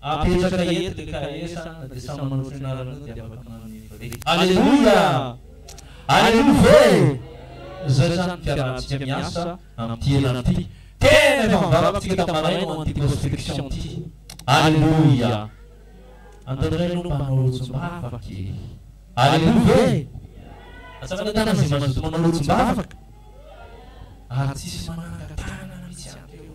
Apetraka eto le KS a, na dia samy manao fianarana eo dia afaka manome vrai. Aleloia! Aleloia ve e! Izay izany ny fiarahantsika miasa amin'ity henany ity. Tena efa mivaram-pitsika tamin'ny maraina ho an'ity prospection ity. Aleloia! Antananay aloha mba hanao rotsim-bavaka e! Aleloia ve e! Atsangana tànana izay mazoto manao rotsim-bavaka. Ary tsisy manangan-tànana mihitsy avy eo.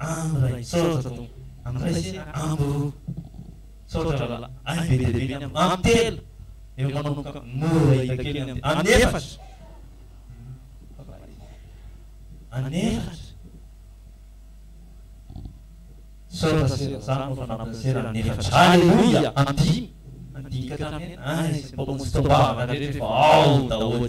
Amy ray misaotra tompo. Amy ray sy amy roa misaotra rahalahy ahy be dia be ny amy amy telo eo manomboka mora hita kely ny amy any efatra any efatra misaotra sera za no fa nampiny sera any efatra aleloia amy dimy amy dimy ka hatramin'ny enina ay sy ny mpamonjy tombavana rehetra efa ao daholo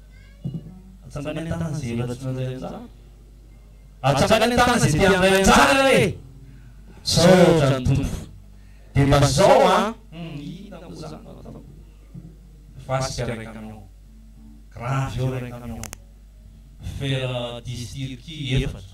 Atsangany an-tàna izay efa tsy mandray anjara. Atsangany an-tàna izay te handray anjara re! Misaotra ny Tompo. Dia mba izao an! Hum, inona moa izany no ataoko? Fasika iray camion. Gravy eo iray camion. Fer dix tirki efatra.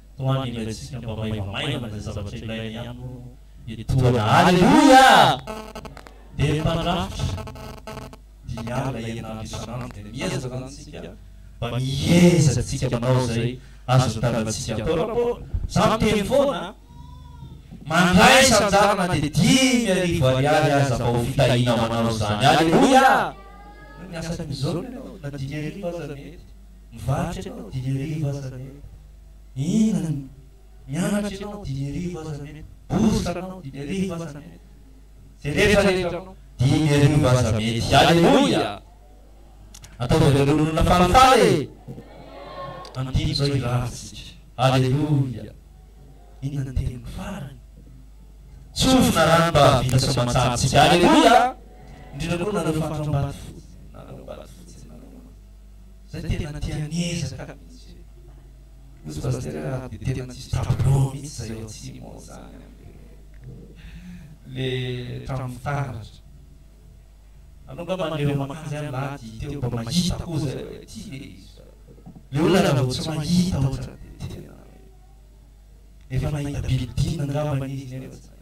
Toa ny ilaintsika mba maivamaivana izay zavatra ilainy ihany moa ny tohana. Aleloia! Dia ny mpandrafitra dia miaro ilay herinandro isan'andro dia miezaka izany isika mba miezaka isika manao izay azon'ny tanantsika atao. Raha vao izaho miteny foana, mandray isan-jara na dia dimy arivo ariary aza mba ho fitahiana manao izany. Aleloia! Miasa ny zona ianao na dimy arivo aza mety. Mivarotra ianao dimy arivo aza mety, mihinana, mianatra ianao dimy arivo aza mety, bourse anao dimy arivo aza mety, izay rehetra rehetra anao dimy arivo aza mety. Aleloia! Ataovy avy amin'ireo olona falifaly e! Andidy izao hiravintsika. Aleloia! Inona ny teniko farany? Tsofina rano mba hahavita soamantsara-tsika. Aleloia! Indrindra koa nareo fatr'Ambatofotsy, nareo Ambatofotsy, nareo. Zay tena tia miezaka mihitsy e! Kozy Pasitera a, dia tena tsisy tableau mihitsy zay ao atsimo ao zany an! Le trano fitaratra. Anao nga maneho makajy any lady teo mba mahita koa zay hoe ty le izy fa le olona raha vao tsy mahita otrany dia tena hoe efa nahita bilodina angambany izy nefa tsy nahita.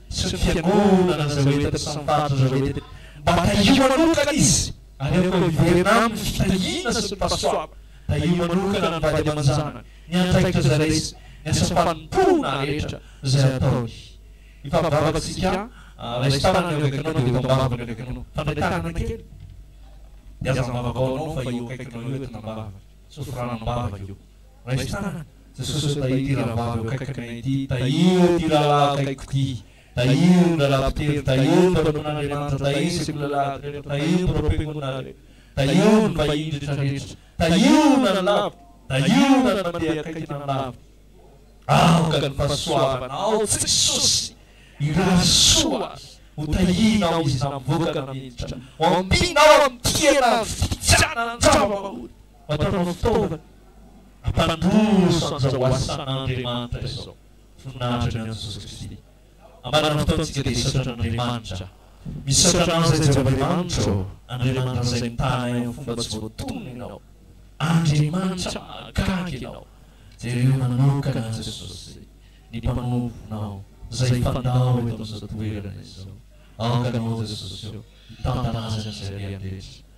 sy ny fiangonana izay ho entiny sy ny faritra izay ho entiny, mba tahio manokana izy ary aoka hiverina aminy ny fitahiana sy ny fahasoavana, tahio manokana ny vady aman-janany, ny andraikitra izay raisiny, ny asa fanompoana rehetra izay ataony. Ifampivavantsika, raisin-tanana ny eo akaikinao dia ho tambavy ny eo akaikinao. Tandray tanana kely dia aza mivavaka ho anao fa eo akaikinao eo entina am-bava, sofiranao am-bava io. Raisin-tanana. Jesosy ô tahiry ity rahavavy eo akaikinay ity, tahiry ity rahalahy akaikiko ity, tahiry ny rahalahy mpitendry, tahiry ny mpanompon'Andriamanitra, tahiry ny sekolalahiko rehetra, tahiry ny mpanompoangonina rehetra, tahiry ny vahiny rehetra rehetra, tahiry na ny lavitra, tahiry na ny mandeha akaiky na ny lavitra. Aoka ny fahasoavanao Jesosy hirary soa azy, ho tahianao izy na mivoaka na miditra, ho ampianao amin'ny tia na ny fitiavana ny zava-mahory, ho ataonao fitaovana. Hampandroso an'izao asan'Andriamanitra izao voninahitra ny an'i Jesosy Kristy. Ambaran'ny fotoantsika dia hisaotra an'Andriamanitra. Misaotra anao izay Jehovah Andriamanitra ô, Andriamanitra izay nitaha anay amin'ny fomba tsy voatonona ianao. Andriamanitra mahagaga ianao. Jereo manokana an'i Jesosy, ny Mpanomponao, izay hifandao eto amin'izao toerana izao. Aoka ianao Jesosy ô, hitantana azy amin'izay alehany rehetra.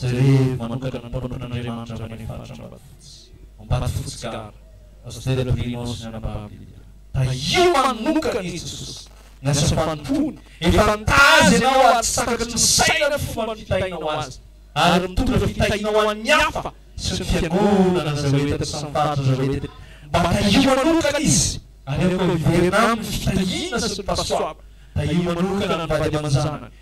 Jerevo manokana ny mpanompon'Andriamanitra avy any faritra Ambatofotsy, Ambatofotsy Gara, Astera Brinao sy ny anababiny. Tahio manokana i Jesosy ny asa fanompoany. Efa nitazy anao ary tsy takatry ny saina ny fomba nifitahinao Azy, ary mitondra fitahiana ho an'ny hafa sy ny fiangonana an'izay ho entiny sy ny faritra izay ho entiny. Mba tahio manokana Izy, ary aoka hiverina Aminy ny fitahiana sy ny fahasoavana. Tahio manokana ny vady aman-janany.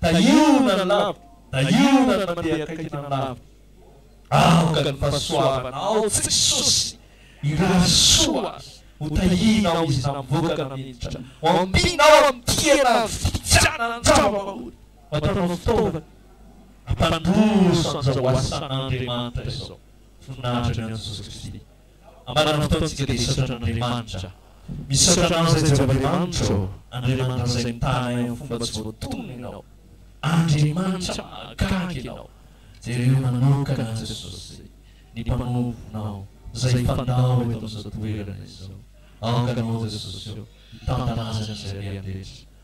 Tahiana ny lavitra, tahiana ny mandeha akaiky ny lavitra, aoka ny fahasoavanao tsy misosy hirary soa aza ho tahianao izy na mivoaka na miditra, ho ampianao amin'ny tia na amin'ny fitiavana ny zava-bahoaka, ho ataonao fitaovana hampandroso an'izao asan'Andriamanitra izao, voninahitra ny an'i Jesosy Kristy. Ambaran'ny fotoantsika dia hisaotra Andriamanitra. Misaotra anao izay Jehovah Andriamanitro, Andriamanitra izay mitana anay amin'ny fomba tsy voatonona ianao. Andriamanitra mahagaga ianao. Jereo manokana an'i Jesosy, ny Mpanomponao, izay hifandao eto amin'izao toerana izao. Aoka ianao Jesosy ô, hitantana Azy amin'izay alehany rehetra.